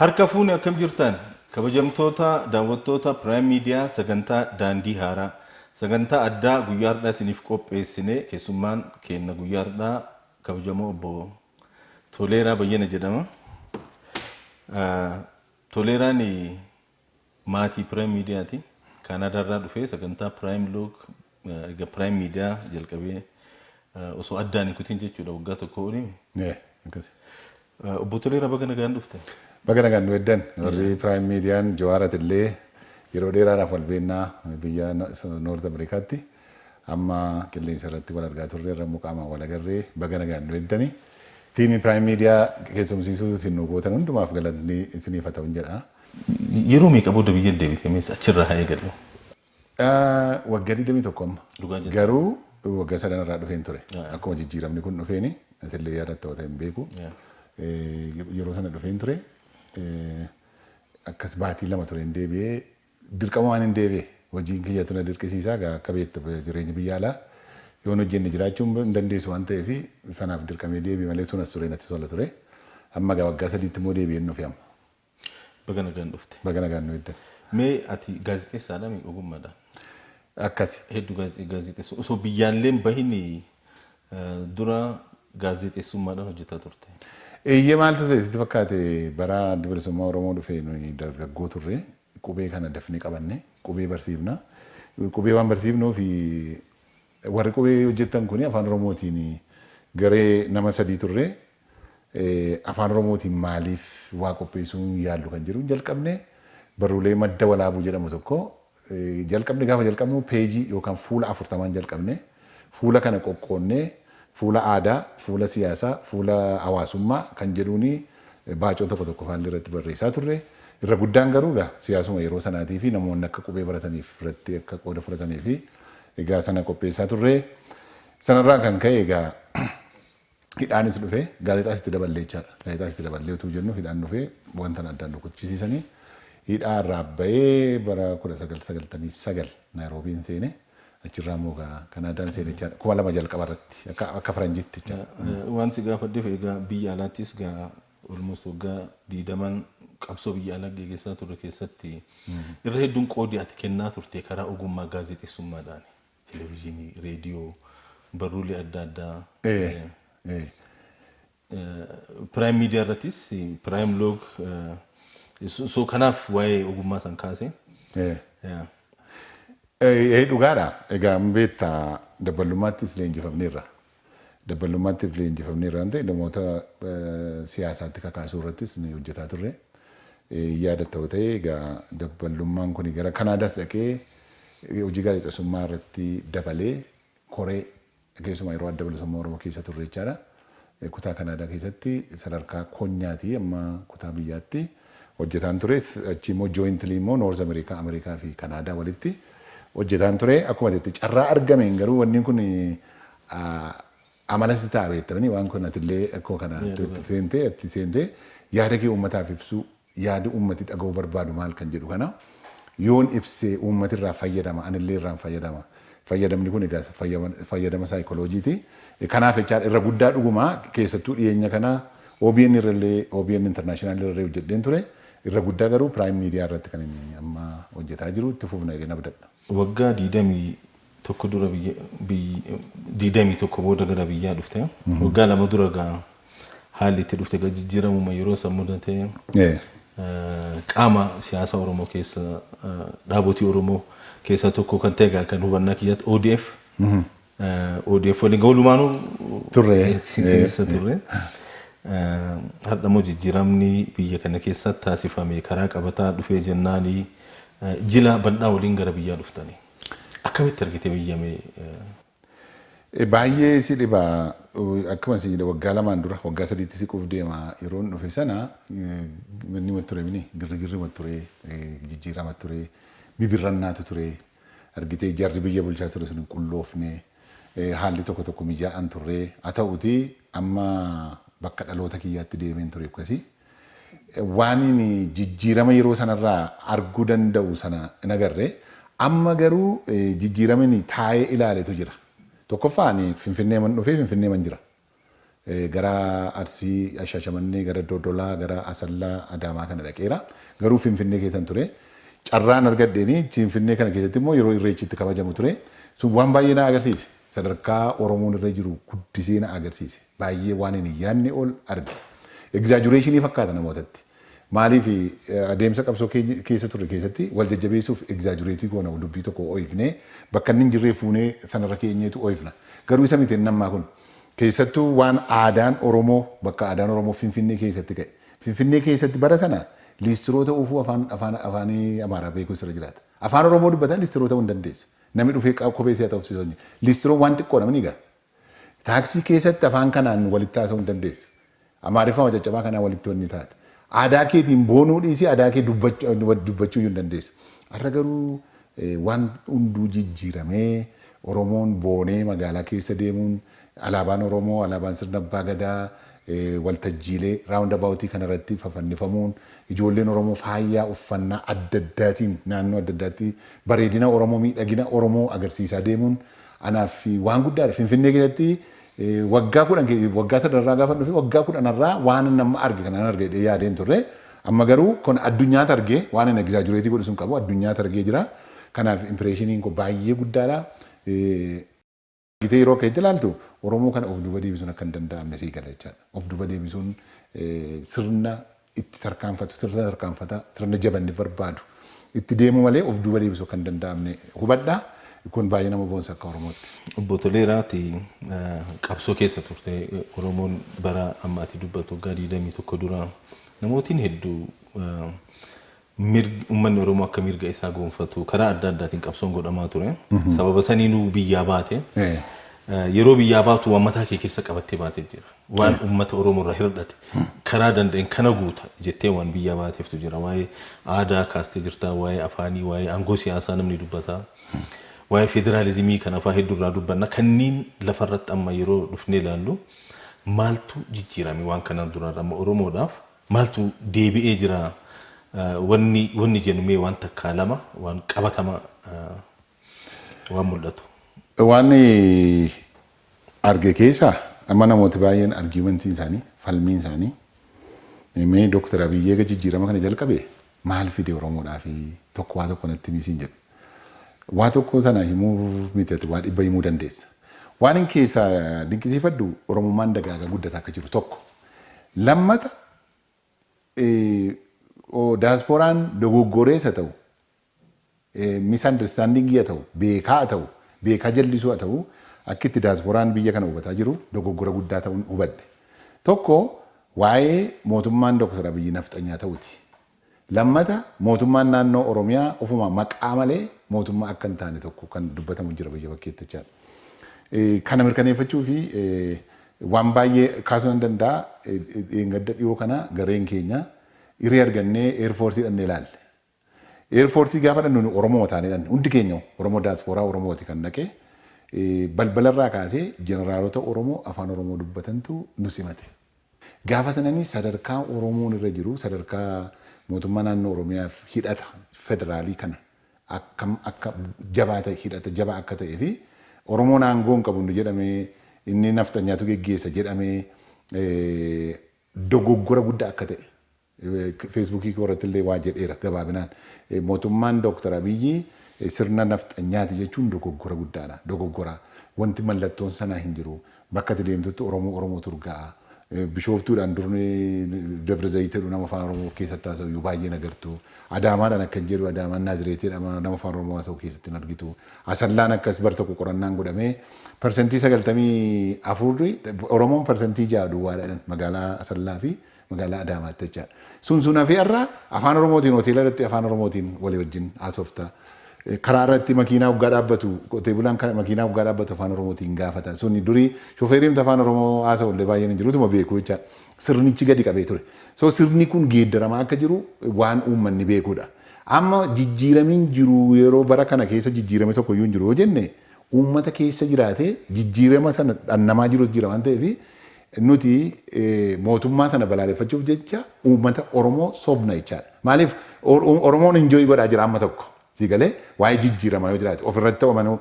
Harka fuune akkam jirtaan? Kabajamtoota daawwattoota Prime Media sagantaa Daandii Haaraa, sagantaa addaa guyyaa hardhaa isiniif qopheessine keessummaan keenna guyyaa hardhaa kabajamoo obbo Toleeraa Bayyana jedhama. Toleeraan Maatii Prime Media ti. Canada irraa dhufee sagantaa Prime Log erga Prime Media jalqabee osoo addaan hin kutin jechuudha waggaa tokkoo olii. Yeah, akkas. Obbo Toleeraa baga nagaan dhufte. Baga nagaan nu eddan. Warri Prime Median Jawaar atillee yeroo dheeraadhaaf wal beennaa biyya North Americaatti. Amma qilleensa irratti wal argaa turre irra immoo qaamaan wal agarree baga nagaan nu eddani. Tiimii Prime Media keessumsiisuu isin nu gootan hundumaaf galatni isiniif haa ta'un jedha. Yeroo meeqa booda biyya deebite mees achirraa haa eegallu. Waggaa 21 amma. Dhugaa jette. Garuu waggaa sadan irraa dhufeen ture. Yeah. Akkuma jijjiiramni kun dhufeeni atillee yaadatta wata hin beeku. Yeah. Eh, Yeroo sana dhufeen ture eh, akkas baatii lama tureen deebi'ee dirqama waan hin deebi'e hojiin kiyyatu na dirqisiisaa gaa akka beektu jireenya biyya alaa yoon hojjenne jiraachuu hin dandeessu waan ta'eef sanaaf dirqamee deebi'e malee tunas ture natti tola ture. Amma gaa waggaa sadiitti immoo deebi'een dhufe amma. Baga nagaan dhufte. Baga nagaan nu eegdan. Mee ati gaazexeessaadha mi ogummaadhaan? Akkasi. Heddu gaazexee gaazexeessa osoo biyyaalleen bahin dura gaazexeessummaadhaan hojjetaa turte. Eeyyee maaltu ta'e sitti fakkaate bara addi bilisummaa Oromoo dhufe nuyi dargaggoo turre qubee kana dafnee qabanne qubee barsiifna. Qubee waan barsiifnuuf Warri qubee hojjettan kun Afaan Oromootiin garee nama sadii turre. Afaan Oromootiin maaliif waa qopheessuu hin yaallu kan jedhuun jalqabne. Barruulee Madda Walaabuu jedhamu tokko jalqabne. Gaafa jalqabnu peejii yookaan fuula afurtamaan jalqabne. Fuula kana qoqqoodnee fuula aadaa, fuula siyaasaa, fuula hawaasummaa kan jedhuun baacoo tokko tokko faallee irratti barreessaa turre. Irra guddaan garuu egaa siyaasuma yeroo sanaatii fi namoonni akka qubee barataniif irratti akka qooda fudhatanii fi Egaa sana qopheessaa turre. Sanarraan kan ka'e egaa hidhaanis dhufe. Gaazexaas itti daballee jechaadha. Gaazexaas itti daballee utuu jennu hidhaan dhufe wanta na addaan rukuchisiisanii hidhaa irraa ba'ee bara 1999 Naayiroobiin seene. Achirraa immoo egaa Kanaadaan seene jechaadha. 2000 jalqaba irratti akka akka faranjiitti jechaadha. Waan si gaafadheef egaa biyya alaattis egaa almost waggaa 20n qabsoo biyya alaa geggeessaa turre keessatti irra hedduun qoodi ati kennaa turte karaa ogummaa gaazexessummaadhaani. Televizyinii, reediyoo, barruulee adda addaa. Ee, eh, ee. eh, Prime Media irrattis eh, Prime Log eh, so so kanaaf waa'ee ogummaa san kaase. Ee. Yeah. Ee, ee, dhugaadha. Egaa beektaa dabalummaattis leenjifamneerra. Dabballuummaattif leenjifamneerra waan ta'e namoota siyaasaatti kakaasuu irrattis nuyi hojjetaa turre. Yaadatta yoo ta'e egaa dabballummaan kuni gara Kanaadaas dhaqee hojii gaazexessummaa irratti dabalee koree keessumaa yeroo Adda Bilisummaa Oromoo keessa turre jechaadha. Kutaa Kanaadaa keessatti sadarkaa konyaatii amma kutaa biyyaatti hojjetaan ture. Achii immoo jointly immoo North America, America fi Canada walitti hojjetaan ture. Akkuma jette carraa argameen garuu wanni kun amalatti ta'a beektamanii waan kun atillee akkuma kana itti seentee itti seentee yaada kee uummataaf ibsuu yaada uummati dhaga'uu barbaadu maal kan jedhu kana. yoon ibse uummati irraa fayyadama anillee irraan fayyadama fayyadamni kun egaa fayyadama saayikolojiiti kanaaf jechaadha irra guddaa dhuguma keessattuu dhiyeenya kana OBN irrallee OBN international irrallee hojjedheen ture irra guddaa garuu prime media irratti kan inni amma hojjetaa jiru itti fufna jedheen abdadha. Waggaa digdamii tokko dura biyya, biyy, 21 booda gara biyyaa dhufte. Waggaa lama dura gaa haalli itti dhufte gaa jijjiiramuma yeroo san mudate Ee. eh, qaama siyaasa Oromoo keessa eh, dhaabotii Oromoo keessaa tokko kan ta'e gaa kan hubannaa kiyyaatti ODF. eh, ODF waliin gaa walumaanuu Turre. keessa turre. Eh, Har'a immoo jijjiiramni biyya kana keessatti taasifame karaa qabataa dhufee jennaani eh, jila bal'aa waliin gara biyyaa dhuftanii. Akkamitti argite biyya mee? Baay'ee si dhiba. Akkuma si jedhe waggaa lamaan dura waggaa sadiitti siquuf deema yeroon dhufe sana manni ma ture mini girrigirri ma ture jijjiirama ture bibirrannaatu ture argitee jarri biyya bulchaa ture sun hin qulloofne haalli tokko tokko mijaa'an turre haa ta'uti amma bakka dhaloota kiyyaatti deemeen ture akkasii Waanin jijjiirama yeroo sanarraa arguu danda'u sana hin agarre. Amma garuu jijjiiramin taa'ee ilaaletu jira. Tokkoffaa ani Finfinneeman dhufee Finfinneeman jira. Gara Arsii, Shaashamannee, gara Dodolaa, gara Asallaa, Adaamaa kana dhaqeera. Garuu Finfinnee keessan ture. Carraan argadheenii Finfinnee kana keessatti immoo yeroo Irreechi itti kabajamu ture. Sun waan baay'ee na agarsiise. Sadarkaa Oromoon irra jiru guddisee na agarsiise. Baay'ee waanin hin yaadne ol arge. Egzaajureeshinii fakkaata namootatti. Maaliif adeemsa qabsoo keessa turre keessatti wal jajjabeessuuf egzaajureetii goona dubbii tokko ooyifnee bakka inni hin jirree fuunee sanarra keenyeetu ooyifna. Garuu isa miti inni ammaa kun. Keessattuu waan aadaan Oromoo bakka aadaan Oromoo Finfinnee keessatti ka'e. Finfinnee keessatti bara sana liistiroo ta'uufuu afaan afaan afaanii Amaaraa beekuu sirra jiraata. Afaan Oromoo dubbataan liistiroo ta'uu hin dandeessu. Namni dhufee kophee si haxoofsisu hin jiru. Liistiroon waan xiqqoodha mini egaa. Taaksii keessatti afaan kanaan walitti haasa'uu hin dandeessu. Amaariffama caccabaa kanaan walitti wanni taate. Aadaa keetiin boonuu dhiisii aadaa kee dubbachuu iyyuu hin dandeessu. Har'a garuu waan hunduu jijjiiramee Oromoon boonee magaalaa keessa deemuun alaabaan Oromoo, alaabaan sirna abbaa gadaa waltajjiilee round about kana irratti fafannifamuun ijoolleen Oromoo faayyaa uffannaa adda addaatiin naannoo adda addaatti bareedina Oromoo, miidhagina Oromoo agarsiisaa deemuun Anaaf waan guddaadha. Finfinnee keessatti waggaa kudhan waggaa sadarraa gaafan dhufe waggaa kudhanarraa waanan amma arge kanaan arga jedhee yaadee hin turre. Amma garuu kun addunyaa targee waan ani egzaajureetii godhu sun qabu addunyaa targee jira. Kanaaf impireeshiniin koo baay'ee guddaadha. Argitee yeroo akka itti ilaaltu Oromoo kana of duuba deebisuun akka hin danda'amne sii gala jechaadha. Of duuba deebisuun sirna itti tarkaanfatu sirna tarkaanfata sirna jabanni barbaadu itti deemu malee of duuba deebisu akka hin danda'amne hubadha. Kun baay'ee nama boonsa akka Oromootti. Obbo Toleeraa ati qabsoo keessa turte Oromoon bara amma ati dubbattu waggaa 21 dura namootiin hedduu Mirgi ummanni Oromoo akka mirga isaa goonfatu karaa adda addaatiin qabsoon godhamaa ture. Sababa saniinuu biyyaa baate. Yeroo biyyaa baatu waan mataa kee keessa qabattee baate jira. Waan ummata Oromoo irraa hirdhate karaa danda'een kana guuta jettee waan biyyaa baateeftu jira. Waa'ee aadaa kaastee jirta, waa'ee afaanii, waa'ee aangoo siyaasaa namni dubbata. Waa'ee federaalizimii kan afaa hedduu irraa dubbanna. Kanniin lafa irratti amma yeroo dhufnee ilaallu maaltu jijjiirame waan kanaan duraarra amma Oromoodhaaf Maaltu deebi'ee jira wanni wanni jennu mee waan takkaa lama waan qabatama waan mul'atu. Waan arge keessa amma namooti baay'een argumentiin isaanii falmiin isaanii mee Dr. Abiy eega jijjiirama kana jalqabe maal fide Oromoodhaafi tokko waa tokko natti himi siin jedhe. Waa tokko sana himuuf miti ati waa dhibba himuu dandeessa. Waanin keessaa dinqisiifadhu Oromummaan dagaagaa guddataa akka jiru tokko. Lammata daasporaan dogoggorees haa ta'u misunderstanding a ta'u, beekaa a ta'u, beekaa jallisuu a ta'u akki itti diasporaan biyya kana hubataa jiru dogoggora guddaa ta'un hubadhe. Tokko waa'ee mootummaan Dr. Abiyyi nafxanyaa ta'uti. Lammata mootummaan naannoo Oromiyaa ofuma maqaa malee mootummaa akka hin taane tokko kan dubbatamu jira biyya bakkeetti jechaadha. Kana mirkaneeffachuufi waan baay'ee kaasuu nan danda'a. Dheengadda dhiyoo kana gareen keenya hiree argannee Air Force dhannee ilaalle. Airforce gaafa dhannu nu Oromuma taane dhanne hundi keenya Oromo diaspora Oromooti kan dhaqe balbalarraa kaasee jeneraalota Oromoo afaan Oromoo dubbatantu nu simate. Gaafa sanani sadarkaa Oromoon irra jiru sadarkaa mootummaa naannoo Oromiyaaf hidhata federaalii kana akkam akka jabaa ta'e hidhata jabaa akka ta'ee fi Oromoon aangoo hin qabu nu jedhamee inni nafxanyaatu geggeessa jedhamee dogoggora guddaa akka ta'e Feesbuukii koo irratti illee waa jedheera gabaabinaan. Mootummaan Dooktar Abiyyi sirna nafxanyaati jechuun dogoggora guddaadha. Dogoggora. Wanti mallattoon sanaa hin jiru. Bakka ati deemtutti Oromoo Oromootu urgaa'a. Bishooftuudhaan dur Dabra Zayit jedhu nama Afaan Oromoo keessatti haasa'u iyyuu baay'ee hin agartu. Adaamaadhaan akkan jedhu Adaamaan Naazireet jedhama nama Afaan Oromoo haasa'u keessatti hin argitu. Asallaan akkas bar tokko qorannaan godhamee parsantii 94 Oromoon parsantii 6 duwwaadha jedhan magaalaa Asallaa fi Magaalaa Adaamaatti jechaa. Sun sun hafee har'a Afaan Oromootiin hoteela irratti Afaan Oromootiin walii wajjin haasofta. Karaa irratti makiinaa hoggaa dhaabbatu qotee bulaan makiinaa hoggaa dhaabbatu Afaan Oromootiin gaafata. Suni durii shofeeriin Afaan Oromoo haasa'u illee baay'een hin jiru utuma beeku jechaa. Sirnichi gadi qabee ture. So sirni kun geeddaramaa akka jiru waan uummanni beekudha. Amma jijjiiramiin jiru yeroo bara kana keessa jijjiirame tokko iyyuu hin jiru yoo jenne uummata keessa jiraatee jijjiirama sana dhannamaa jiru jira waan ta'eef Nuti mootummaa tana balaaleffachuuf jecha uummata Oromoo sobna jechaadha. Maaliif Oromoon enjoy godhaa jira amma tokko. Sii galee waa'ee jijjiiramaa yoo jiraate ofirratti ta'u amanuu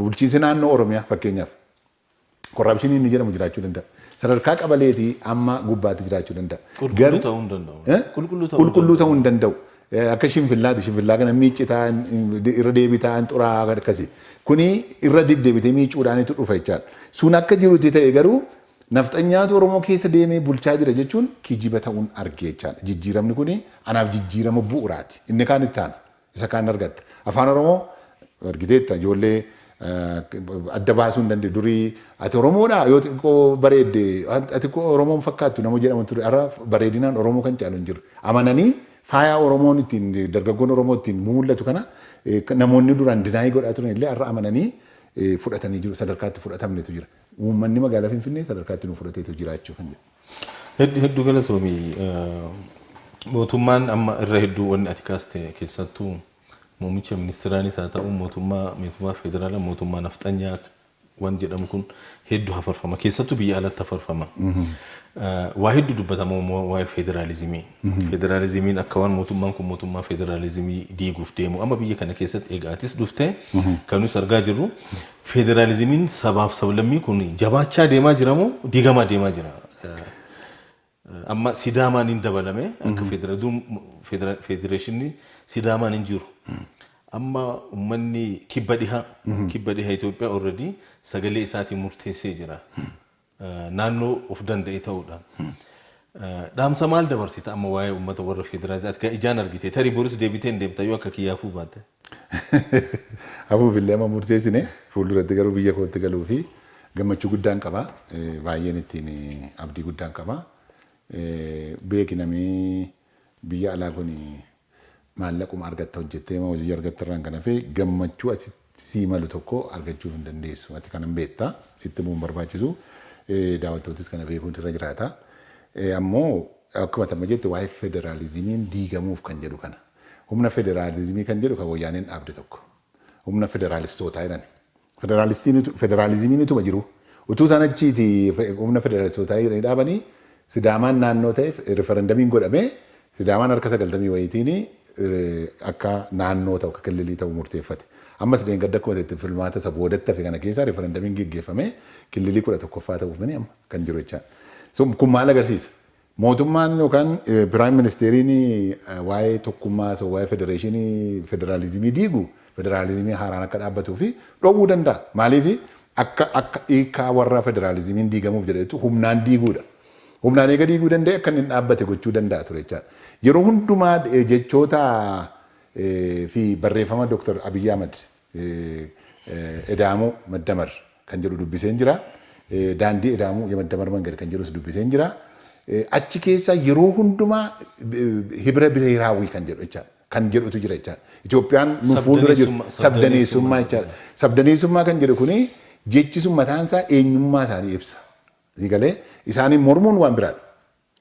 bulchiinsi naannoo Oromiyaa fakkeenyaaf korraapshinii inni jedhamu jiraachuu danda'a. Sadarkaa qabaleetii amma gubbaatti jiraachuu danda'a. Qulqulluu Garuu ta'uu hin danda'u. eh, Qulqulluu ta'uu hin qulqulluu ta'uu hin danda'u. Akka shinfillaati shinfillaa kana miiccitaa irra deebitaa hin xuraa'aa akkasi. Kuni irra deddeebitee miiccuudhaanitu dhufa jechaadha. Sun akka jirutti ta'e garuu nafxanyaatu Oromoo keessa deemee bulchaa jira jechuun kijiba ta'uun arge jechaadha. Jijjiiramni kuni anaaf jijjiirama bu'uraati. Inni kaan itti aana. Isa kaan argatta. Afaan Oromoo argiteetta ijoollee adda baasuu hin dandeenye. Durii ati Oromoodhaa yoo xiqqoo bareedde ati koo Oromoo hin fakkaattu nama jedhama ture. Har'a bareedinaan Oromoo kan caalu hin jiru. Amananii faayaa Oromoon ittiin dargaggoon Oromoo ittiin mumullatu kana namoonni duraan dinaayii godhaa turan illee har'a amananii fudhatanii jiru. Sadarkaa itti fudhatamnetu jira. Uummanni magaalaa Finfinnee sadarkaa itti nu fudhateetu jiraachuu kan jedhu. Heddu heddu galatoomi. Mootummaan amma irra hedduu wanni ati kaaste keessattuu Muummicha ministiraanis haa ta'uu mootummaa meetumaa federaalaa mootummaa nafxanyaa waan jedhamu kun heddu hafarfama. Keessattuu biyya alatti hafarfama. Waa heddu dubbatama waa'ee federaalizimii. Federaalizimiin akka waan mootummaan kun mootummaa federaalizimii diiguuf deemu. Amma biyya kana keessatti egaa atis dhuftee kan nuti argaa jirru federaalizimiin sabaaf sablammii kun jabaachaa deemaa jiramoo diigamaa deemaa jira? Amma Sidaamaan hin dabalame akka federal federeeshinni Sidaamaan hin jiru. Amma ummanni kibba dhiha kibba dhiha Itoophiyaa already sagalee isaatiin murteessee jira. Eh, Naannoo of danda'e ta'uudhaan. Eh, Dhaamsa maal dabarsita amma waa'ee ummata warra federaalii ati kan ijaan argite tarii boris deebitee hin deebita yoo akka kiyyaafuu baate. Hafuuf illee amma murteessine fuulduratti garuu biyya kootti galuu fi gammachuu guddaan qaba. Baay'een ittiin abdii guddaan qaba. Beeki namii biyya alaa kun maallaquma argatta hojjettee moo hojii argatta irraan kan hafe gammachuu asitti sii malu tokko argachuuf hin dandeessu. Ati kanan beekta sitti immoo hin barbaachisu. Daawwattootis kana beekuun irra jiraata. Ammoo akkuma tamma jette waa'ee federaalizimiin diigamuuf kan jedhu kana. Humna federaalizimii kan jedhu kan Woyyaaneen dhaabde tokko. Humna federaalistootaa jedhani. Federaalistiin utu, federaalizimiin utuma jiru, utuu isaan achiiti fe- humna federaalistootaa jedhanii dhaabanii Sidaamaan naannoo ta'e riferendamiin godhamee Sidaamaan harka sagaltamii wayiitiin eh, akka naannoo ta'u, akka killilii ta'u murteeffate. Ammas deengadda akkuma ta'etti filmaata isa boodatti hafe kana keessaa riferendamiin geggeeffamee killilii kudha tokkoffaa ta'uuf mini amma kan jiru jechaa. So, kun maal agarsiisa? Mootummaan yookaan Piraayim Ministeeriin waa'ee tokkummaa haasa'u, waa'ee federeeshinii, federaalizimii diigu, federaalizimiin haaraan akka dhaabbatuu fi dhowwuu danda'a. Maaliif? Akka akka hiikkaa warra federaalizimiin diigamuuf jedhanitti humnaan diiguu dha. Humnaan eega diiguu danda'e akka inni hin dhaabbate gochuu danda'a ture jechaa dha. Yeroo hundumaa jechoota fi barreeffama Dr. Abiy Ahmed Edaamoo Maddamar kan jedhu dubbiseen jira. Daandii Edaamoo Yemaddamar Mangad kan jedhus dubbiseen jira. Achi keessa yeroo hundumaa hibira bireeraawwii kan jedhu jechaadha. Kan jedhutu jira jechaadha. Itoophiyaan nu fuuldura jiru Sabdaneessummaa- sabdaneessummaa sabdaneessummaa jechaadha. jechuudha. Sabdaneessummaa kan jedhu kuni jechi sun mataan isaa eenyummaa isaanii ibsa. Sii galee isaanii mormuun waan biraadha.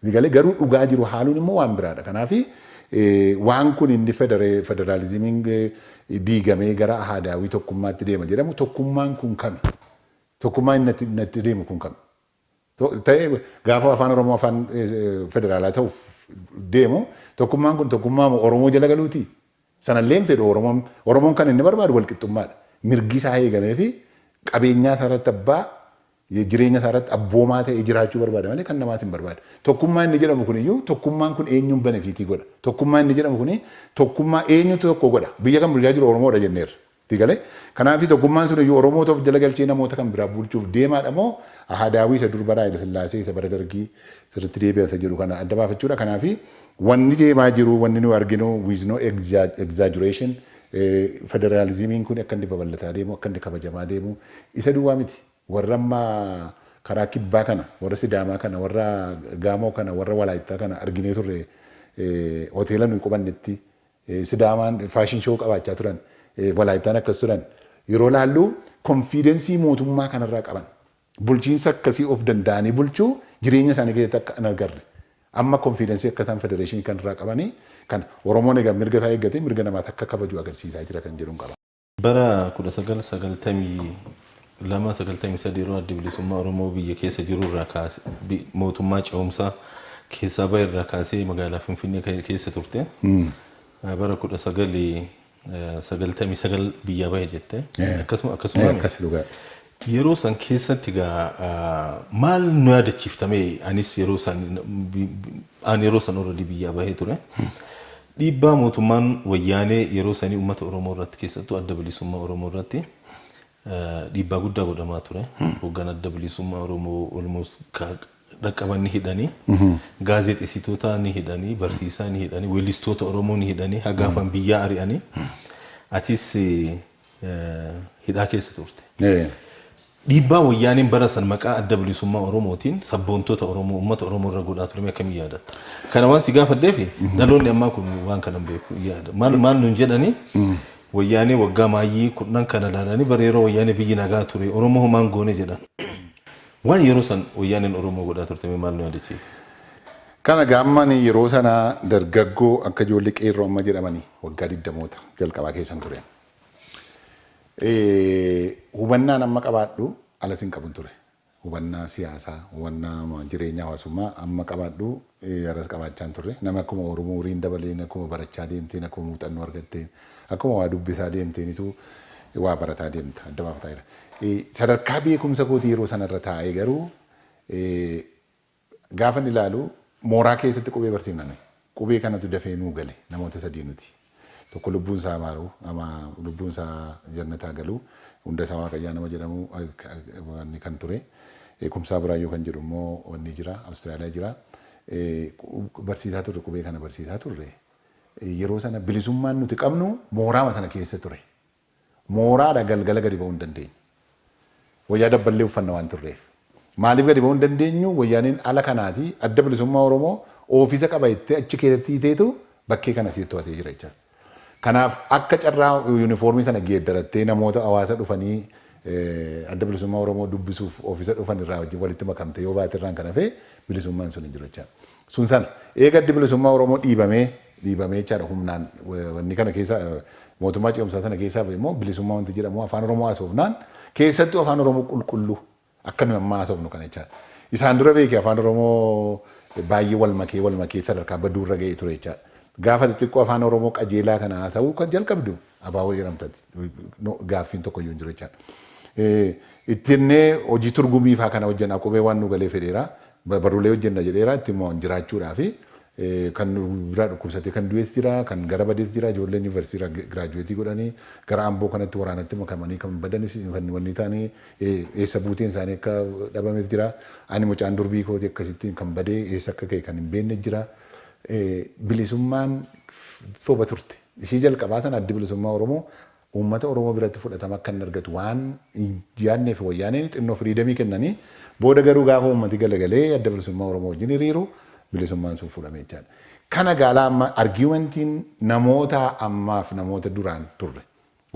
Ni galee garuu dhugaa jiru haaluun immoo waan biraa dha. Kanaaf waan kun inni federaalizimiin diigamee gara ahaadaawwii tokkummaatti deema jedhamu tokkummaan kun kami? Tokkummaa inni natti deemu kun kami? Ta'e gaafa afaan Oromoo afaan federaalaa ta'uuf deemu tokkummaan kun tokkummaa moo Oromoo jala galuutii? Sana illee hin fedhu Oromoon. Oromoon kan inni barbaadu walqixxummaa dha. Mirgi isaa eegamee fi qabeenyaa isaa irratti abbaa, jireenya isaa irratti abboomaa ta'ee jiraachuu barbaada malee kan namaati hin barbaadu. Tokkummaa inni jedhamu kun iyyuu tokkummaan kun eenyuun benefiitii godha? Tokkummaa inni jedhamu kun tokkummaa eenyutu tokko godha? Biyya kan bulchaa jiru Oromoo dha jenneerra. Sii galee? Kanaafi tokkummaan sun iyyuu Oromoota of jala galchee namoota kan biraa bulchuuf deemaadha moo Ahadaawwii isa dur bara Hayila Sillaasee isa bara Dargii sirritti deebi'an isa jedhu kana adda baafachuudha. Kanaafi wanni deemaa jiru wanni nuyi arginu with no exaggeration federalismiin kuni akka inni babal'ataa deemu akka inni kabajamaa deemu isa duwwaa miti. Warra amma karaa kibbaa kana warra Sidaamaa kana warra Gaamoo kana warra Walaayittaa kana arginee turre hoteela nuyi qubannetti Sidaamaan fashion show qabaachaa turan, Walaayittaan akkas turan yeroo ilaallu confidence mootummaa kanarraa qaban, bulchiinsa akkasii of danda'anii bulchuu jireenya isaanii keessatti akka hin agarre. Amma confidence akka isaan federation kanarraa qabanii kan Oromoon egaa mirga isaa eeggatee mirga namaas akka kabaju agarsiisaa jira kan jedhun qaba. Bara 1992, 93 yeroo Addi Bilisummaa Oromoo biyya keessa jiru irraa kaasee, bi- mootummaa ce'umsaa keessaa bahe irraa kaasee magaalaa Finfinnee ke- keessa turte. Eh, Bara 1999 biyyaa bahe jette. Eh. Akkasuma Eh, akkasuma. akkasi dhugaadha. Yeroo san keessatti egaa maal nu yaadachiifta mee anis yeroo san aan yeroo san already biyyaa bahee ture. Dhiibbaa mootummaan wayyaanee yeroo sanii uummata Oromoo irratti keessattuu adda bilisummaa Oromoo irratti dhiibbaa guddaa godhamaa ture. Hoggan adda bilisummaa Oromoo almost dhaqqaban ni hidhanii, gaazexessitoota ni hidhanii, barsiisaa ni hidhanii, weellistoota Oromoo ni hidhanii, hagaafan biyyaa ari'anii. Atis hidhaa keessa turte. Dhiibbaa Wayyaaneen bara san maqaa Adda Bilisummaa Oromootiin sabboontota Oromoo, uummata Oromoo irra godhaa ture mee akkamiin yaadatta? Kana waan si gaafadheef dhaloonni ammaa kun waan kana hin beeku. Yaada maal maal nuun jedhanii Wayyaanee waggaa maayyii kudhan kana ilaalanii bara yeroo Wayyaanee biyyi nagaa ture Oromoo homaa hin goone jedhan. Waan yeroo san Wayyaaneen Oromoo godhaa turte mee maal nu yaadachiifta? Kana egaa amma ani yeroo sana dargaggoo akka ijoollee qeerroo amma jedhamanii waggaa digdamoota jalqabaa keessan ture. Hubannaan amma qabaadhu alas hin qabun ture. Hubannaa siyaasaa, hubannaa jireenya hawaasummaa amma qabaadhu alas qabaachaa hin turre. Nama akkuma Oromoo uriin dabaleen akkuma barachaa deemteen akkuma muuxannoo argatteen akkuma waa dubbisaa deemteenitu waa barataa deemta adda baafataa jira. Sadarkaa beekumsa kootii yeroo sanarra taa'ee garuu Gaafan ilaalu mooraa keessatti qubee barsiifna nuyi. Qubee kanatu dafee nuu gale namoota sadii nuti. Tokko lubbuun isaa maaru ama lubbuun isaa jannataa galu Hundasaa Waaqayyaa nama jedhamu wanni kan ture. Kumsaa Buraayyuu kan jedhu immoo wanni jira Australia jira. Barsiisaa turre qubee kana barsiisaa turre. Yeroo sana bilisummaan nuti qabnu mooraama sana keessa ture. Mooraadha galgala gadi ba'uu hin dandeenyu. Wayyaa dabballee uffanna waan turreef. Maaliif gadi ba'uu hin dandeenyu? Wayyaaneen ala kanaati Adda Bilisummaa Oromoo ofiisa qaba jettee achi keessatti hiiteetu bakkee kana siif to'atee jira jechaa. Kanaaf akka carraa yunifoormii sana geeddarattee namoota hawaasa dhufanii Adda Bilisummaa Oromoo dubbisuuf ofiisa dhufan irraa wajjin walitti makamtee yoo baate irraan kan hafe bilisummaan sun hin jiru jechaa. Sun sana. Eega Addi Bilisummaa Oromoo dhiibamee, dhiibamee jechaadha humnaan wanni kana keessa mootummaa ce'umsaa sana keessaa ba'e immoo bilisummaa wanti jedhamu Afaan Oromoo haasofnaan keessattuu Afaan Oromoo qulqulluu akka nuyi amma haasofnu kana jechaadha. Isaan dura beeki Afaan Oromoo baay'ee wal makee wal makee sadarkaa baduu irra ga'ee ture jechaadha. Gaafa xixiqqoo Afaan Oromoo qajeelaa kana haasa'uu kan jalqabdu Abaawoo jedhamta ati. No, gaaffiin tokko iyyuu hin jiru jechaadha. Eh, Itti jennee hojii turgumii faa kana hojjenna qubee waan nu galee fedheera. Ba- Barruulee hojjenna jedheera itti immoo jiraachuudhaa fi eh, kan nu biraa dhukkubsatee kan du'es jira, kan gara badees jira, ijoolleen yuunivarsiitii irraa giraajuweetii godhanii gara amboo kanatti waraanatti makamanii kan badanis kan wanni taanii eh, eessa buuteen isaanii akka dhabames jira. Ani mucaan durbii kooti akkasittiin kan badee eessa akka ka'e kan hin beekne jira. Eh, Bilisummaan soba turte. Ishii jalqabaa tana Addi Bilisummaa Oromoo uummata Oromoo biratti fudhatama akka inni argatu waan hin yaadneef Wayyaaneen xinnoo firiidamii kennanii booda garuu gaafa uummati galagalee Adda Bilisummaa Oromoo wajjin hiriiru bilisummaan sun fudhame jechaadha. Kana gaalaa amma argumentiin namootaa ammaaf namoota duraan turre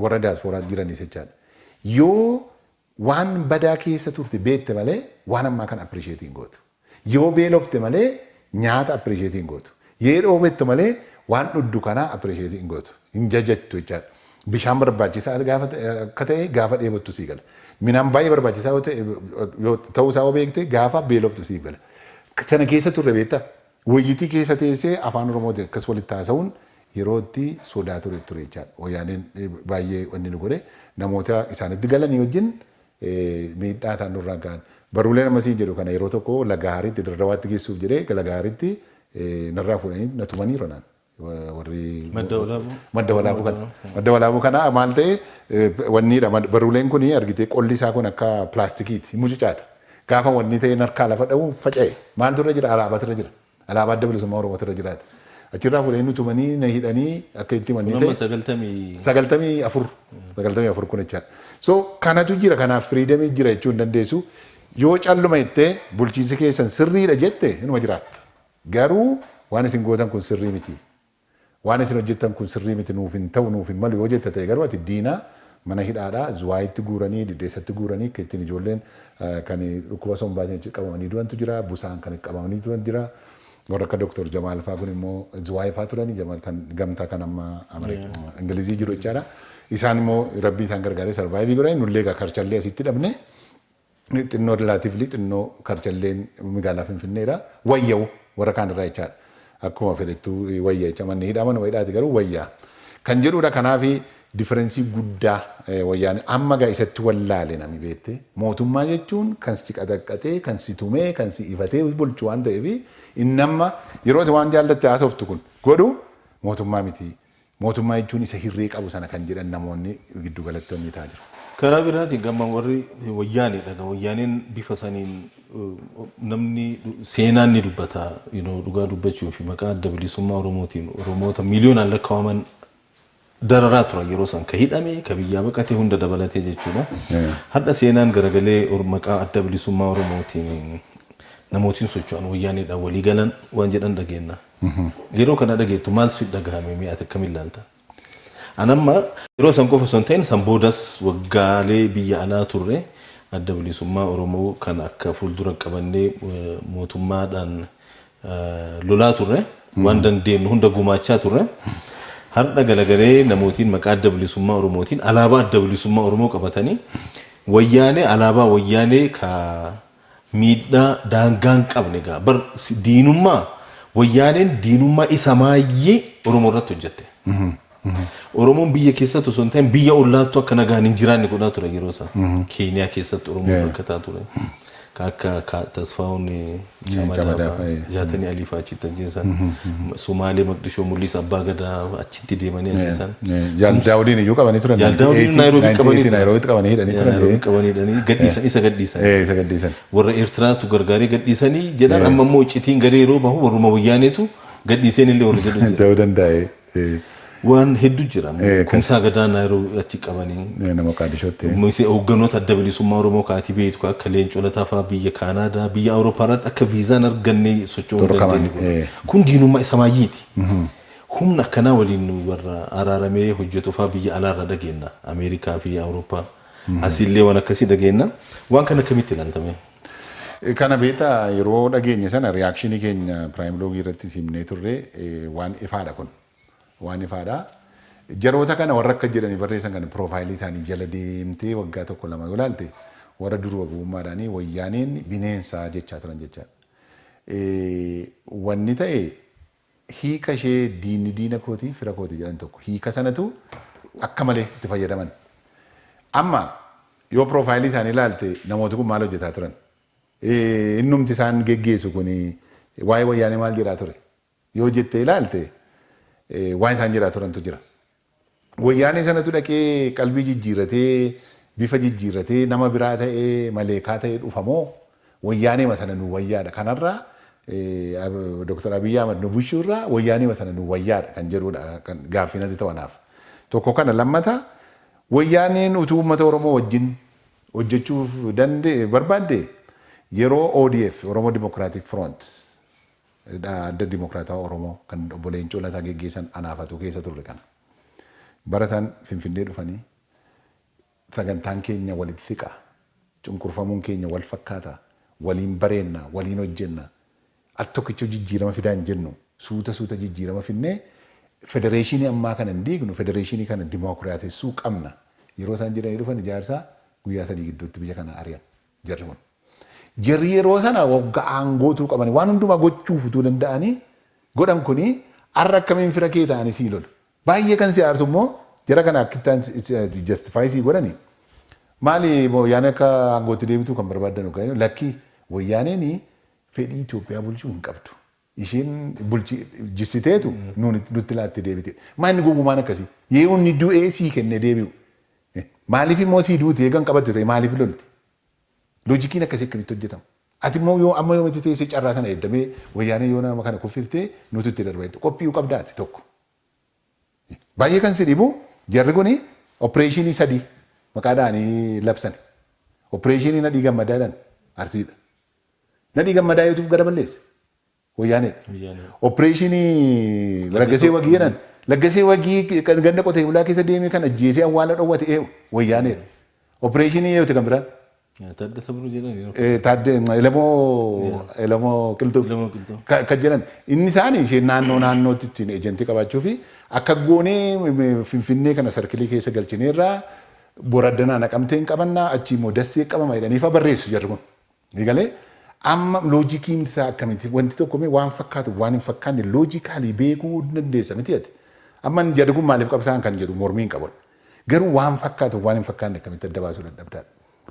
warra diasporaatti jiranis jechaadha. Yoo Waan badaa keessa turte beekte malee waan ammaa kana appreciate hin gootu. Yoo beelofte malee nyaata appreciate hin gootu. Yee dhoobettu malee waan dhuddu kanaa appreciate hin gootu. Hin jajattu jechaadha. Bishaan barbaachisaa gaafa akka ta'e gaafa dheebottu sii gala. Midhaan baay'ee barbaachisaa yoo ta'e ta'uu isaa yoo beekte gaafa beeloftu siif gala. Sana keessa turre beektaa? Woyyittii keessa teessee Afaan Oromootiin akkas walitti haasawuun yeroo itti sodaa ture ture jechaadha. Woyyaaneen baay'ee wanni nu godhe namoota isaanitti galanii wajjin miidhaa isaan nurraan ka'an. Barruuleen amma siin jedhu kana yeroo tokko Lagahaaritti, Dirdawaatti geessuuf jedhee Lagahaaritti narraa fuudhanii na tumaniiru anaan. warri Madda walaabuu. madda walaabuu kana madda walaabuu kana maal ta'e eh, wanniidha mad- barruuleen kun argitee qolli isaa kun akka pilaastikiiti hin mucucaata gaafa wanni ta'e harkaa lafa dha'u faca'e maaltu irra jira alaabaatu irra jira alaabaa adda bilisummaa oromoo irra jiraata achirraa fuudhanii nu tumanii na hidhanii akka itti Kun manni amma ta'e sagaltamii sagaltamii afur sagaltamii afur kun jechaadha. So kanatu jira kanaaf firiidamii jira jechuu hin dandeessu. Yoo calluma jettee bulchiinsi keessan sirriidha jette inuma jiraatta. Garuu waan isin gootan kun sirrii miti. Waan isin hojjettan kun sirrii miti nuuf hin ta'u nuuf hin malu yoo jetta ta'e garuu ati diina mana hidhaadhaa Zuwaayitti guuranii Diddeessatti guuranii akka ittiin ijoolleen kan dhukkuba sombaatiin achi qabamanii du'antu jira busaan kan qabamanii turan jira warra akka Dr. Jamaal faa kun immoo Zuwaay faa turanii Jamaal kan gamtaa kan amma Ingilizii jiru jechaadha. Isaan immoo rabbii isaan gargaaree sarvaayivii godhanii nullee egaa karchallee asitti dhabne Ni xinnoo relatively xinnoo karchalleen migaalaa finfinneedha. Wayya warra kaan irraa jechaadha. Akkuma fedhettu wayya jecha manni hidhaa manuma hidhaati garuu wayya kan jedhuudha. Kanaaf differensii guddaa wayyaanee amma gaa isatti wallaale nami beette mootummaa jechuun kan si qaxaqqaxee kan si tumee kan si ifatee bulchu waan ta'eef inni amma yeroo ati waan jaallatte haasoftu kun godhu mootummaa miti Mootummaa jechuun isa hirree qabu sana kan jedhan namoonni giddu galattoonni ta'a jiru. Karaa biraatiin gama warri wayyaaneedha. Gama wayyaaneen bifa saniin namni seenaan ni dubbata. You know, dhugaa dubbachuu fi maqaa adda bilisummaa Oromootiin Oromoota miiliyoonaan lakkaa'aman dararaa turan yeroo san ka hidhame ka biyyaa baqate hunda dabalatee jechuudha. Har'a seenaan garagalee or- maqaa adda bilisummaa Oromootiin namootiin socho'an wayyaaneedhaan walii galan waan jedhan dhageenya. Yeroo kana dhageettu maaltu si dhagahame mee ati akkamiin ilaalta? An amma yeroo san qofa osoo hin ta'in san boodas waggaalee biyya alaa turre adda bilisummaa Oromoo kan akka fuuldura qabannee mootummaadhaan lolaa turre waan dandeenyu hunda gumaachaa turre. Har'a galagalee namootiin maqaa adda bilisummaa Oromootiin alaabaa adda bilisummaa Oromoo qabatanii wayyaanee alaabaa wayyaanee ka Miidhaa daangaa hin qabne gaa bar diinummaa wayyaaneen diinummaa isa maayyii Oromoo irratti hojjette. Oromoon biyya keessatti osoo hin ta'in biyya ollaattuu akka nagaan hin jiraanne godhaa ture yeroo isaa. Keeniyaa keessatti Oromoo Yeah. rakkataa ture. Ka Akka Ka- Tasfaawun Camadaa Camadaa fa'aa, fa'aa, Jaatanii Alii fa'aa achitti ajjeesan. Somaalee Maqdishoo Mul'isa Abbaa Gadaa achitti itti deemanii ajjeesaan. Jaal Daawudiin iyyuu qabanii turan. Jaal Daawudiin Naayiroobii qabanii turan. Naayiroobiitti qabanii hidhanii turan. Naayiroobii qabanii hidhanii gadhiisan isa gadhiisan. Eh, Isa gadhiisan. Warra Eertiraatu gargaaree gadhiisanii jedhan amma immoo iccitiin garee yeroo bahu warruma wayyaaneetu gadhiiseen illee warri jedhu jira. Ta'uu dandaa'e. Eh, Waan hedduu jira. Eh, Kumsaa gadaa Naayiroobii achi qabanii. eh, Nama Qaadishootti. Mise hoogganoota adda bilisummaa Oromoo kaatii beektu kan akka Leencoo Lataa fa'aa biyya Kaanaadaa biyya Awurooppaa irratti akka viizaan arganne socho'uu hin Dorqaman, dandeenye. eh. Kun diinummaa isa maayyiiti. Humna akkanaa waliin warra araaramee hojjetu faa biyya alaa irraa dhageenna. Ameerikaa fi Awurooppaa. Asii illee waan akkasii dhageenna. Waan kana akkamitti ilaalta mee? Kana beektaa yeroo dhageenye sana reaction keenya prime log irrattis himnee turre waan ifaadha kun. Waan ifaadha. Jaroota kana warra akka jedhanii barreessan kana profile isaanii jala deemtee waggaa tokko lama yoo ilaalte warra duruba gowwummaadhaanii wayyaaneen bineensa jechaa turan jechaadha. Wanni ta'e Hiika ishee diinni diina kooti, fira kooti jedhan tokko. Hiika sanatu akka malee itti fayyadaman. Amma yoo piroofaayilii isaanii ilaalte namooti kun maal hojjetaa turan? Innumti isaan geggeessu kun waa'ee wayyaanee maal jedhaa ture? Yoo jettee ilaalte waan isaan jedhaa turantu jira. Wayyaanee sanatu dhaqee qalbii jijjiirratee, bifa jijjiirratee, nama biraa ta'ee, maleekaa ta'ee dhufa moo wayyaaneema sana nuu wayyaadha? Kanarraa Dr. Abiy Ahmed nu bulchuu irraa wayyaaneema sana nuu wayyaadha kan jedhudha kan gaaffii natti ta'u anaaf. Tokko kana lammata wayyaaneen utuu uummata Oromoo wajjin hojjechuuf dande barbaadde yeroo ODF, Oromo Democratic Front, Hidhaa Adda Dimokiraatawaa Oromoo kan Obbo Leencoo Lataa geggeessan anaa fatuu keessa turre kana. Bara san Finfinnee dhufanii sagantaan keenya walitti siqa, cunqurfamuun keenya wal fakkaata, waliin bareenna, waliin hojjenna, al tokkichuu jijjiirama fidaa hin jennu, suuta suuta jijjiirama fidnee federeeshinii ammaa kana hin diignu, federeeshinii kana dimookiraatessuu qabna yeroo isaan jedhanii dhufan ijaarsaa guyyaa sadii gidduutti biyya kana ari'an. jarri kun. Jarri yeroo sana wagga aangoo utuu qabanii waan hundumaa gochuuf utuu danda'anii godhan kuni har'a akkamiin fira kee ta'anii sii lolu. Baay'ee kan si aarsu immoo jara kana akkittaan justify sii godhani maali wayyaanee akka aangootti deebituu kan barbaaddan lakkii wayyaaneen fedhii Itoophiyaa bulchuu hin qabdu. Ishiin bulchi jissiteetu nuun nutti laatte deebite. Maa inni gowwumaan akkasii? Yee unni du'ee sii kenne deebi'u. Eh, Maaliif immoo sii duuti eegan qabattu ta'e maaliif lolti? Loojikiin akkasii akkamitti hojjetama? Ati immoo yoo amma yoomitti teessee carraa sana eegda mee wayyaanee yoo nama kana kuffiftee nutu itti darba jette qophii'uu qabda ati tokko. Baay'ee kan si dhibu jarri kuni opereeshinii sadii maqaa dha'anii labsani. Opereeshinii nadhii gammadaa jedhan arsiidha. Nadhii gammadaa yootuf gara balleesse. Wayyaaneedha. Wayyaanee. Opereeshinii Laggasee Laggasee Wagii jedhan. Laggasee Wagii kan ganda qotee bulaa keessa deemee kan ajjeesee awwaala dhowwate eewu. Wayyaaneedha. Opereeshinii eewuti kan biraan. Yaa, Taaddasa Biruu jedhani. Eh, Taadde Elemoo Yeah. Elemoo Qilxuu. Elemoo Qilxuu. Ka- Kan jedhan inni isaanii ishee naannoo naannootti ittiin ejentii qabaachuu fi akka goonee m- m- finfinnee kana sarkilii keessa galchineerraa boraddanaa naqamteen qabannaa achii immoo dassee qabama jedhaniifa barreessu jarri kun. Eegalee amma loojikiin isaa akkamitti wanti tokko mee waan fakkaatu waan hin fakkaanne loojikaalii beekuu hin dandeessa miti ati. Amma inni jedhu kun maaliif qabsaa'an kan jedhu mormii hin qaban. Garuu waan fakkaatu waan hin fakkaanne akkamitti adda baasuu dadhabdaan.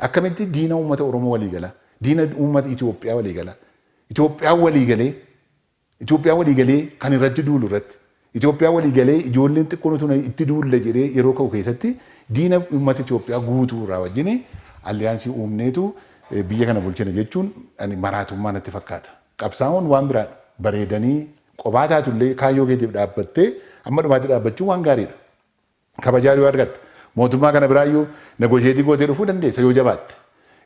Akkamitti diina uummata Oromoo walii gala, diina uummata Itoophiyaa walii gala, Itoophiyaan walii galee Itoophiyaa walii galee kan irratti duulu irratti Itoophiyaa walii galee ijoolleen xiqqoon utuu na itti duulla jedhee yeroo ka'u keessatti diina uummata Itoophiyaa guutuu irraa wajjin alliyaansii uumneetu biyya kana bulchina jechuun ani maraatummaa natti fakkaata. Qabsaa'uun waan biraadha. Bareedanii qophaa taatullee kaayyoo keetiif dhaabbattee amma dhumaatti dhaabbachuun waan gaariidha. kabajaa yoo argatte mootummaa kana biraayyuu negotiate gootee dhufuu dandeessa yoo jabaatte.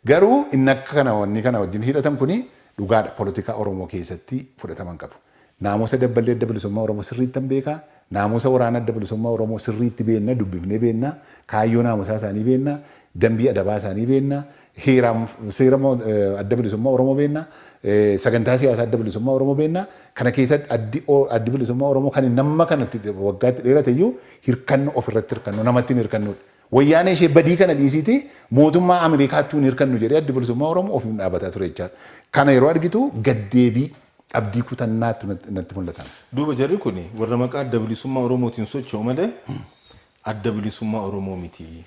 Garuu inni akka kana wanni kana wajjin hidhatan kuni dhugaadha polotikaa Oromoo keessatti fudhatama hin qabu. Naamusa Dabballee Adda Bilisummaa Oromoo sirriittan beeka, naamusa waraana Adda Bilisummaa Oromoo sirriitti beenna, dubbifnee beenna, kaayyoo naamusaa isaanii beenna, dambii adabaa isaanii beenna, heeraam seera mo, eh, Adda Bilisummaa Oromoo beenna, eh, sagantaa siyaasaa Adda Bilisummaa Oromoo beenna. Kana keessatti addi, o, addi Bilisummaa Oromoo kan inni amma kanatti de- waggaatti dheerate iyyuu hirkanno ofirratti hirkanno namatti hin hirkannuudha. Wayyaanee ishee badii kana dhiisiitii mootummaa Ameerikaattuu hin hirkannu jedhee addi Bilisummaa Oromoo ofiin dhaabataa ture jechaadha. Kana yeroo argitu gaddeebii abdii kutannaattu natti natti mul'atan. Duuba jarri kun warra maqaa adda bilisummaa Oromootiin socho'u malee Adda Bilisummaa Oromoo miti.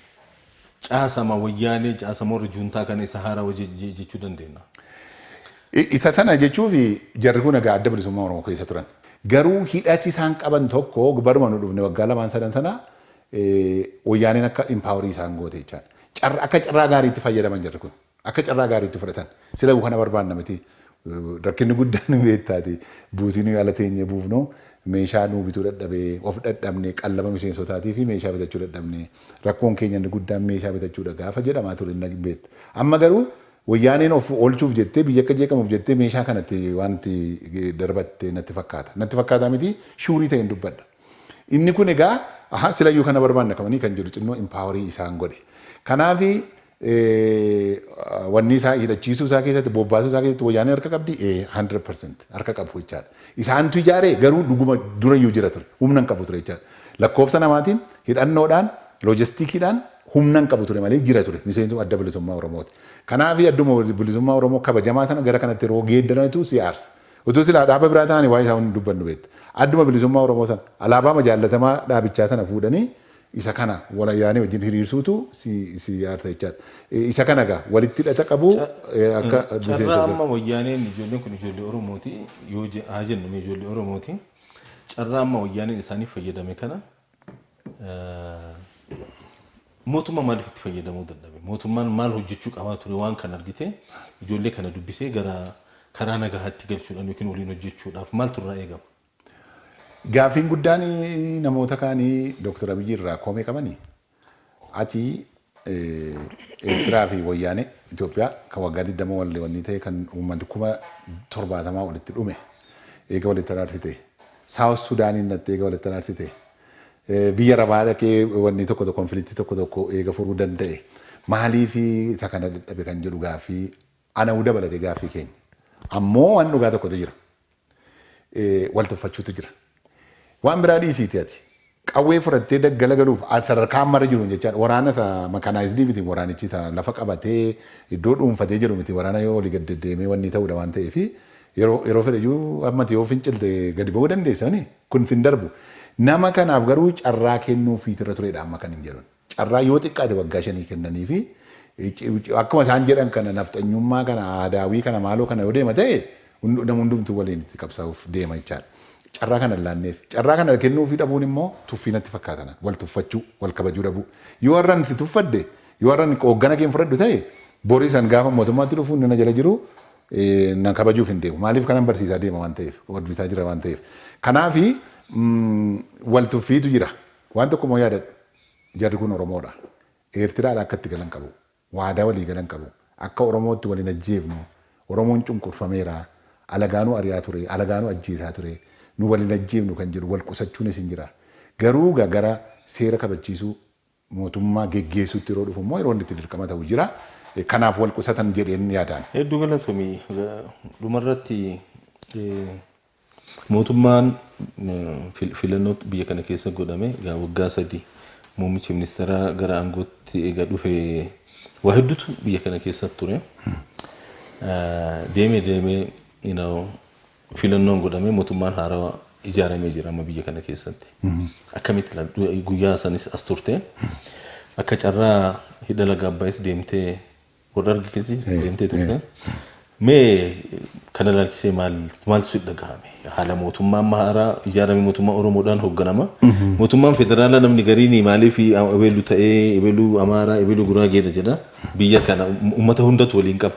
Caasama Wayyaanee, caasama warra Juuntaa kana isa haarawa je-je jechuu dandeennaa? I, isa sana jechuufi jarri kun egaa Adda Bilisummaa Oromoo keessa turan. Garuu hidhati isaan qaban tokko baruma nu dhufne waggaa lamaan sadan sana eh, Wayyaaneen akka empower isaan goote jechaan. Carra, akka carraa gaariitti fayyadaman jarri kun. Akka carraa gaariitti fudhatan. Silayu kana barbaanna miti. Rakkinni guddaan ni beektaatii. Buusii nuyi ala teenyee buufnu meeshaa nuu bituu dadhabee, of dhadhabne, qallaba miseensotaatii fi meeshaa bitachuu dadhabne. Rakkoon keenya inni guddaan meeshaa bitachuudha gaafa jedhamaa ture ni beekta. Amma garuu Wayyaaneen of oolchuuf jettee, biyyi akka jeeqamuuf jettee meeshaa kana itti waan itti darbatte natti fakkaata. Natti fakkaataa miti, shuurii ta'een dubbadha. Inni kun egaa, ahaa silayyuu kana barbaanna kamanii kan jedhu xinnoo impaawarii isaan godhe. Kanaafi wanni isaa hidhachiisuu isaa keessatti bobbaasuu isaa keessatti wayyaanee harka qabdi 100% harka qabu jechaadha. Isaantu ijaaree garuu dhuguma durayyuu jira ture humna hin qabu ture jechaadha. Lakkoofsa namaatiin hidhannoodhaan loojistikiidhaan humna hin qabu ture malee jira ture miseensa adda bilisummaa Oromooti. Kanaaf adduma bilisummaa Oromoo kabajamaa sana gara kanatti yeroo geeddaranitu si aarsa. Utuu silaa dhaaba biraa ta'anii waa'ee isaa hin dubbannu beekta. Adduma bilisummaa Oromoo sana alaabaama jaallatamaa dhaabichaa sana fuudhanii Isa kana walayaanee wajjin hiriirsuutu si si aarsa jechaadha. Eh, Isa kana egaa walitti hidhata qabu Ca- eh, akka eh, miseensa Carraa isaa. amma wayyaaneen ijoolleen kun ijoollee Oromooti yoo je- haa jennu mee ijoollee Oromooti. Carraa amma wayyaaneen isaaniif fayyadame kana eh, mootummaa maaliif itti fayyadamuu dadhabe? Mootummaan maal hojjechuu qabaa ture waan kan argite ijoollee kana dubbisee gara karaa nagahaatti galchuudhaan yookiin waliin hojjechuudhaaf maaltu irraa eegama? Gaaffiin guddaan namoota kaanii Dooktar Abiyyi irraa komee qabani ati Eertiraa fi Wayyaanee Itoophiyaa kan waggaa 20 wallee wannii ta'e kan uummanni kuma 70 walitti dhume eega walitti araarsite Saawus Sudaaniin dhattee eega walitti araarsite biyya rabaa dhaqee wannii tokko tokko konfiliiktii tokko tokko eega furuu danda'e maalii fi isa kana dadhabe kan jedhu gaaffii Ana uu dabalate gaaffii keenya. Ammoo waan dhugaa tokkotu jira. Wal tuffachuutu jira. Waan biraa dhiisiiti ati. Qawwee fudhattee daggala galuuf sadarkaa ammarra jiruun jechaan waraana isa makaanaayizdii miti waraanichi isa lafa qabatee iddoo dhuunfatee jedhu miti waraana yoo olii gad deddeemee wannii ta'uudha waan ta'eef yeroo fedheyyuu amma ati yoo fincilte gadi ba'uu dandeessa mini kun sin darbu. Nama kanaaf garuu carraa kennuufiitu irra tureedha amma kanin jedhun. carraa yoo xiqqaate waggaa shanii kennaniifi akkuma isaan jedhan kana nafxanyummaa kana aadaawii kana maaloo kana yoo deema ta'e nama hundumtuu waliin itti qabsaa'uuf deema jechaadha. Carraa kana hin laanneef. Carraa kana kennuufii dhabuun immoo tuffii natti fakkaatan wal tuffachuu wal kabajuu dhabuu. Yoo har'an si tuffadhe yoo har'an hooggana keen fudhadhu ta'e boris an gaafa mootummaatti dhufu inni na jala jiru na kabajuuf hin deemu. Maaliif kanan barsiisaa deema waan ta'eef hojjetaa jira waan ta'eef. Kanaafi wal tuffiitu jira. Waan tokko immoo yaadadhu, jarri kun Oromoodha. Eertiraadhaa akka itti galan qabu. Waadaa walii galan qabu. Akka Oromootti wal hin ajjeefnu. Oromoon cunqurfameera. Alagaanuu ari'aa ture. Alagaanuu ajjeesaa ture. Nu wal hin ajjeefnu kan jedhu wal qusachuunis hin jira. Garuu egaa gara seera kabachiisuu, mootummaa geggeessuutti yeroo dhufu immoo yeroo inni itti dirqama ta'u jira. Kanaaf wal qusatan jedheen yaadaan. Hedduu galatomi. Dhuma irratti Mootummaan filannoo biyya kana keessa godhame egaa waggaa sadii muummichi ministeeraa gara aangootti eega dhufe waa hedduutu biyya kana keessa ture. Deemee deemee you know, filannoon godhamee mootummaan haarawa ijaaramee jira amma biyya kana keessatti. Akkamitti laal- guyyaa sanis as turte akka carraa hidha laga abbaayis deemtee Warra argi kisi deemtee turte. Mee kana ilaalchisee maal maaltu si dhagahame? Haala mootummaa amma haaraa ijaarame mootummaa Oromoodhaan hoogganama. Mootummaan federaalaa namni gariin maaliif Abeelu ta'ee Abeelu Amaaraa Abeelu Guraageedha jedha. Biyya kana uummata hundatu waliin qaba.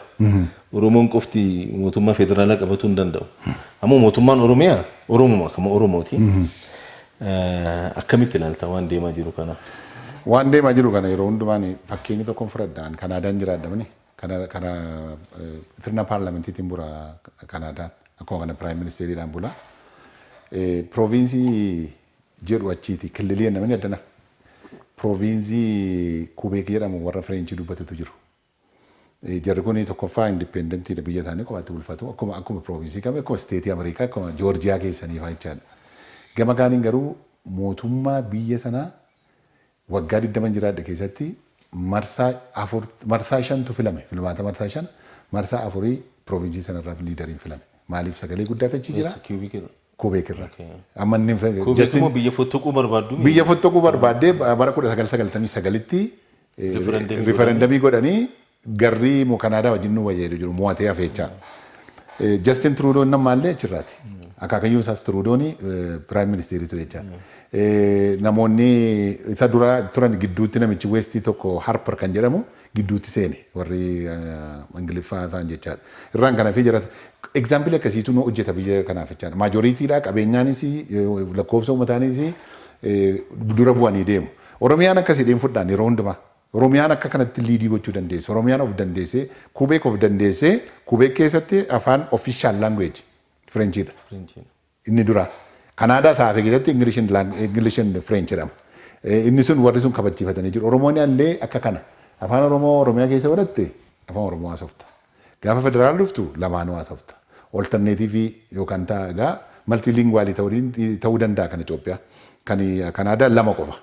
Oromoon qofti mootummaa federaalaa qabatuu hin danda'u. Ammoo mootummaan Oromiyaa Oromuma kama Oromooti. Akkamitti ilaalta waan deemaa jiru kana? Waan deemaa jiru kana yeroo hundumaa ani fakkeenya tokkon fudhadha. An Kanaadaan jiraadha mani. Kana kana sirna paarlamentiitiin bula Kanaadaan. Akkuma kana piraayim ministeeriidhaan bula. Pirooviinsii jedhu achiiti. Killilii namni addana. Pirooviinsii Kubeek jedhamu warra Fireenchii dubbatutu jiru. Jarri kun tokkoffaa independentidha biyya isaanii kophaatti bulfatu akkuma akkuma province kami akkuma state America akkuma Georgia keessanii faa jechaadha. Gama kaaniin garuu mootummaa biyya sanaa waggaa 20 jiraadhe keessatti marsaa afur marsaa shantu filame filmaata marsaa shan marsaa afurii province sanarraaf liidariin filame maaliif sagalee guddaatu achi jira Yes, cubic Kuubeek irraa. Okay. Amma inni Kuubeek Justin- immoo biyya fottoquu barbaaddu miti? biyya fottoquu barbaaddee bara 1999tti eh, Referendumii referendumii godhanii garrii mu Kanaadaa wajjin nu wayya jedhu jiru mo'atee hafeechaa. Eh, Justin Trudeau inni ammaallee achirraati. Akaakayyuun isaas Trudeau'n piraayim ministeerii ture jechaa. Namoonni isa dura turan gidduutti namichi Westii tokko Harper kan jedhamu gidduutti seene warri ingiliffaa ta'an jechaadha. Irraan kana fi jara egzaampilii akkasiitu nu hojjeta biyya kanaaf jechaadha. Maajoriitiidha qabeenyaanis lakkoofsa uummataanis dura bu'anii deemu. Oromiyaan akkasiidha hin fudhaan yeroo hundumaa. Oromiyaan akka kanatti liidii gochuu dandeessi. Oromiyaan of dandeessee Kubeek of dandeessee Kubeek keessatti afaan official language Firenchiidha. Firenchiidha. Inni dura Kanaadaa ta afe keessatti English and lang English and French jedhama. Inni sun warri sun kabachiifatanii jiru. Oromooni allee akka kana Afaan Oromoo Oromiyaa keessa baratte Afaan Oromoo haasofta. Gaafa federaal dhuftu lamaanuu haasofta. Oltarneetiivii yookaan ta egaa maltiilinguwaalii ta'uu ta'uu danda'a kan Itoophiyaa. Kan Kanaadaa lama qofa.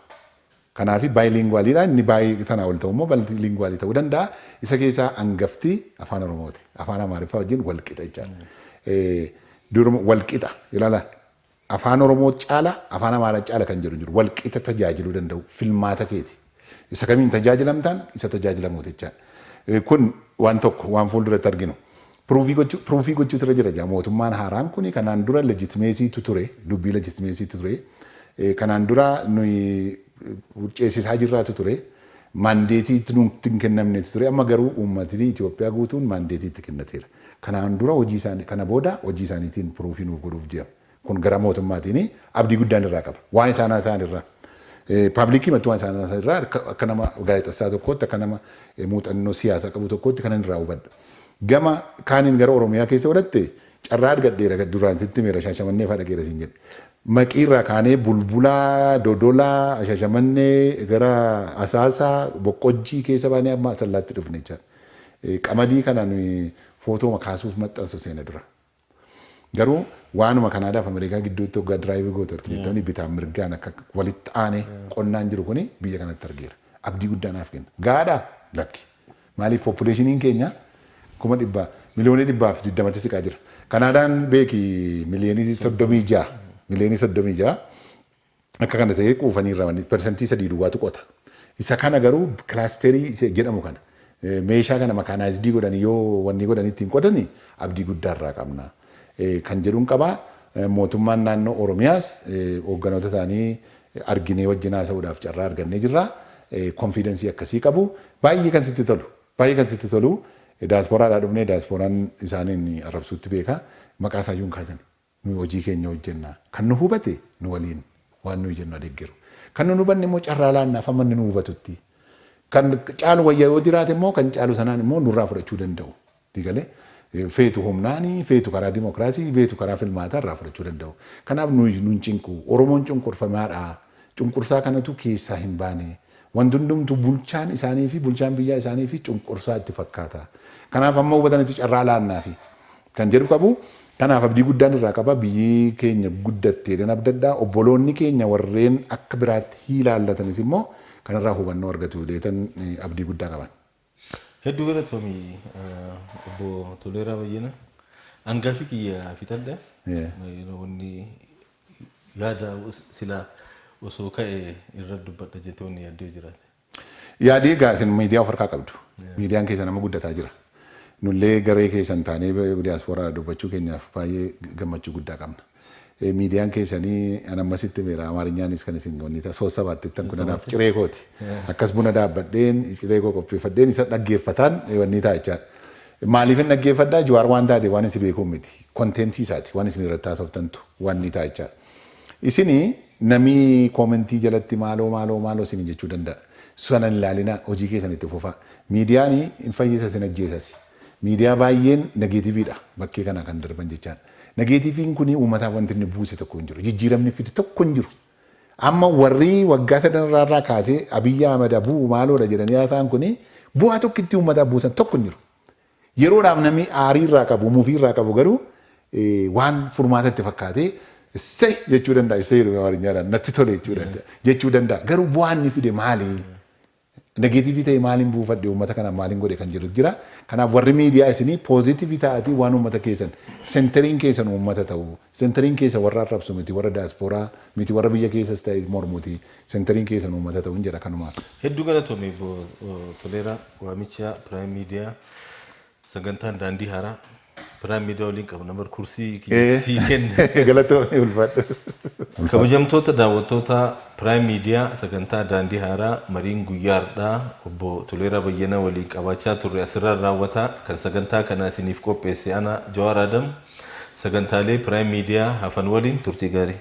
Kanaafi bilingual dha. Inni bi tanaa ol ta'u immoo multilingual ta'uu danda'a. Isa keessaa angafti Afaan Oromooti. Afaan Amaariffaa wajjin wal qixa jechaadha. Duruma wal qixa ilaala Afaan Oromoo caala Afaan Amaaraa caala kan jedhu hin jiru. Wal qixa tajaajiluu danda'uu filmaata keeti. Isa kamiin tajaajilamtaan isa tajaajilamuuti jechaadha. Kun waan tokko waan fuulduratti arginu. Piruufii gochuutu irra jira egaa mootummaan haaraan kuni kanaan dura legitimacy tu ture dubbii legitimacy tu ture kanaan dura nuyi ceesisaa jirraa tu ture mandeetii nutti hin kennamne tu ture amma garuu uummatni Itoophiyaa guutuun mandeetii itti kennateera kanaan dura hojii isaanii kana booda hojii isaaniitiin piruufii nuuf godhuuf deema Kun garaa mootummaatiin abdii guddaan irraa qaba. Waan isaan haasa'an irraa. Paablikiimattuu waan isaan haasa'an irraa akka nama gaazexessaa tokkootti, akka nama muuxannoo siyaasaa qabu tokkootti kanan irraa hubadhu. Gama kaaniin gara Oromiyaa keessa yoo dhatte carraa argadheera duraan sitti himeera Shaashamannee fa'aa dhaqeera siin jedhe. Maqii irraa kaanee Bulbulaa, Dodolaa, Shaashamannee gara Asaasaa, Boqqojjii keessa baanee amma Asallaatti dhufne jechaadha. Qamadii kana nuyi footooma kaasuuf maxxansu seena dura. Garuu waanuma Kanaadaaf Ameerikaa gidduutti hoggaa diraayivii gootu argite jettanii bitaan mirgaan akka walitti aanee qonnaan jiru kuni biyya kanatti argeera. Abdii guddaa naaf kenna. Gaadhaa? Lakki. Maaliif poppuleeshiniin keenya kuma dhibba miliyoonii dhibbaa fi digdamatti siqaa jira. Kanaadaan beeki miliyoonii soddomii ja'a miliyoonii soddomii ja'a Akka kana ta'ee quufanii irraa manni persentii sadii duwwaatu qota. Isa kana garuu kilaasterii jedhamu kana meeshaa kana makaanaayizdii godhanii yoo wanni godhanii ittiin qotani abdii guddaa irraa qabna kan jedhun qaba. Mootummaan naannoo Oromiyaas hoogganoota isaanii arginee wajjin haasa'uudhaaf carraa argannee jirra. Konfiidensii akkasii qabu. Baay'ee kan sitti tolu baay'ee kan sitti tolu daaspooraadhaa dhufne daaspooran isaaniin arrabsuutti beeka maqaa isaayyuu hin kaasani. Nuyi hojii keenya hojjenna. Kan nu hubate nu waliin waan nuyi jennu haa deggeru. Kan nun hubanne immoo carraa laannaaf hamma inni nu hubatutti. Kan caalu wayya yoo jiraate immoo kan caalu sanaan immoo nurraa fudhachuu danda'u. Sii galee? Feetu humnaani, feetu karaa dimokiraasii, feetu karaa filmaataa irraa fudhachuu danda'u. Kanaaf nuyi nun cinqu. Oromoon cunqurfamaa dha. Cunqursaa kanatu keessaa hin baane. Wanti hundumtuu bulchaan isaanii fi bulchaan biyyaa isaanii fi cunqursaa itti fakkaata. Kanaaf hamma hubatanitti carraa laannaafi kan jedhu qabu. Kanaaf abdii guddaan irraa qaba. Biyyi keenya guddatti jedheen abdadha. Obboloonni keenya warreen akka biraatti hiilaallatanis immoo kanarraa hubannoo argatu jedheetan abdii guddaa qaban. Hedduu galatoomi obbo Toleeraa Bayyana. An gaaffii kiyya fixadha. Yeah. Yeroo wanni yaada silaa osoo ka'e irra dubbadha jettee wanni yaaddoo jiraate. Yaadii egaa isin miidiyaa of harkaa qabdu. Miidiyaan keessan amma guddataa jira. Nullee garee keessan taanee diyaaspooraadha dubbachuu keenyaaf baay'ee gammachuu guddaa qabna. Miidiyaan keessanii an ammasitti himeera Amaarinyaanis kan isin wanni ta'a soossa baattettan kun anaaf ciree kooti. Akkas buna daabbadheen ciree koo qopheeffadheen isa dhaggeeffataan wanni ta'a jechaadha. Maaliifin dhaggeeffadhaa Jawaar waan taate waan isin beekuun miti. Konteentii isaati waan isin irratti haasoftantu wanni ta'a jechaadha. Isini namii koomentii jalatti maaloo maaloo maaloo isin jechuu danda'a. Sana hin ilaalinaa hojii keessan itti fufaa. Miidiyaani hin fayyisa isin ajjeesasi. Miidiyaa baay'een nageetiviidha bakkee kanaa kan darban jechaan. Nageetiviin kuni uummataaf wanti inni buuse tokko hin jiru. Jijjiiramni fide tokko hin jiru. Amma warri waggaa sadan irraa irraa kaasee Abiyyi Ahmad haa bu'u maaloodha jedhanii haasa'an kuni bu'aa tokkittii uummataaf buusan tokko hin jiru. Yeroodhaaf namni aarii irraa qabu, mufii irraa qabu garuu waan furmaata itti fakkaatee Issay! jechuu danda'a. Issay jedhama Amaarinyaan. Natti tole jechuudha. Jechuu danda'a. Garuu bu'aa inni fide maali? Negative ta'e maalin buufadhe uummata kana maalin godhe kan jedhu jira. Kanaaf warri miidiyaa isinii positive ta'atii waan uummata keessan centering keessan uummata ta'uu centering keessan warra arrabsu miti warra diaspora miti warra biyya keessas ta'e mormuti centering keessan uummata ta'uun jedha kanumaaf. Hedduu galatoomi obbo Toleeraa waamichaa Prime Media Sagantaan daandii haaraa Prime Media waliin qabna bar kursii kiyya Eh. sii kenna. Galatoomii ulfaadhu. Kabajamtoota daawwattoota Prime Media sagantaa daandii haaraa mariin guyyaa har'aa obbo Toleeraa Bayyanaa waliin qabaachaa turre asirraan raawwata. Kan sagantaa kana isiniif qopheesse ana Jawaar Adam sagantaalee Prime Media hafan waliin turtii gaarii.